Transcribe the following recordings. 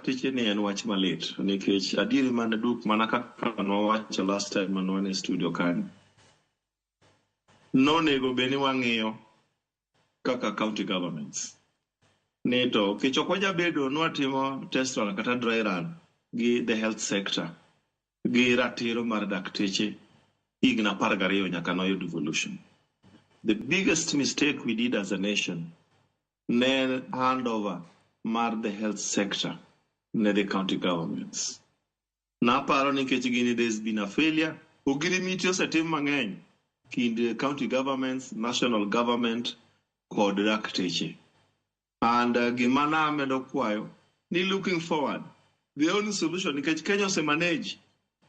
Pichini en wach malit nikech adieri mane duk mana kaka nowacho last time mane wan e studio kanyo. Nonego bed ni wang'iyo kaka county governments. Ni to kech ok wajabedo ni watimo test run kata dry run gi the health sector gi ratiro mar dakteche higni apar gariyo nyaka noyud devolution. The biggest mistake we did as a nation ne handover mar the health sector ne the county governments. Naparo ni nikech gini there has been a failure, ogirimiti osetim mang'eny kind county governments, national government kod dakteche. And uh, gima namedo kwayo ni looking forward, the only solution nikech Kenya ose manage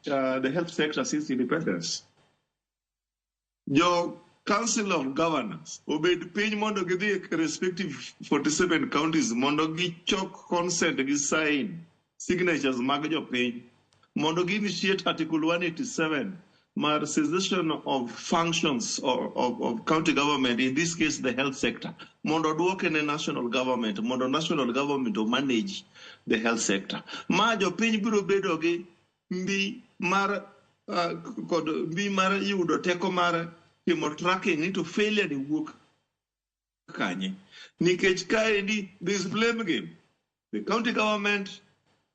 uh, the health sector since independence. jo council of governors obed piny mondo gidhi e respective 47 counties mondo gichok consent gi sign signatures mag jopiny mondo gi initiate article 187 mar cessation of functions of, of, of county government in this case the health sector mondo odwoke ne national government mondo national government o manage the health sector ma jopiny biro bedo gi mbi mar uh, kod mbi mar yudo teko mar timo tracking ni to failure ni wuok kanye nikech kaendi this blame game the county government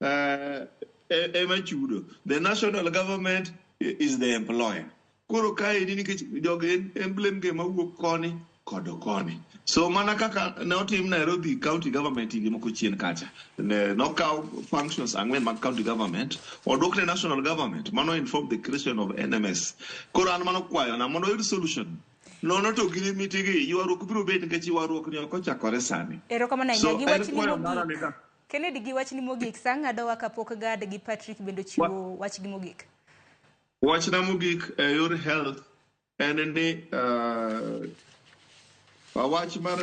uh, ema chudo the national government is the employer Koro kaendi nikech jogi en emblem ge mawuok koni kod koni. So mana kaka ne otim Nairobi county government higni moko chien kacha, ne nokaw functions ang'wen mag county government odwok ne national government. Mano inform the creation of NMS. Koro an mano kwayona mondo oyud solution. Nono to gi limiti gi ywaruok biro bet nikech ywaruok ni ok ochakore sani. Erokamano So ahinya gi en wachni kwayo mara ni mogik. ka Kennedy gi wachni mogik, sa ng'adowa kapok Gad gi Patrick bende ochiwo wachgi mogik. Wachna mogik e yor health en ni uh, wach mar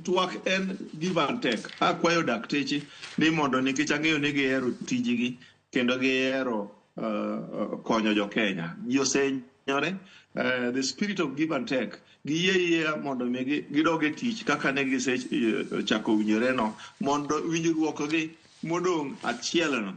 twak en give and take. Akwayo dakteche ni mondo nikech ang'eyo ni gihero tijgi kendo gihero uh, konyo jo Kenya. Ji osenyore uh, the spirit of give and take giyie yie mondo mi gidog e tich kaka ne gisechako winjore no mondo winjruokgi modong' achielno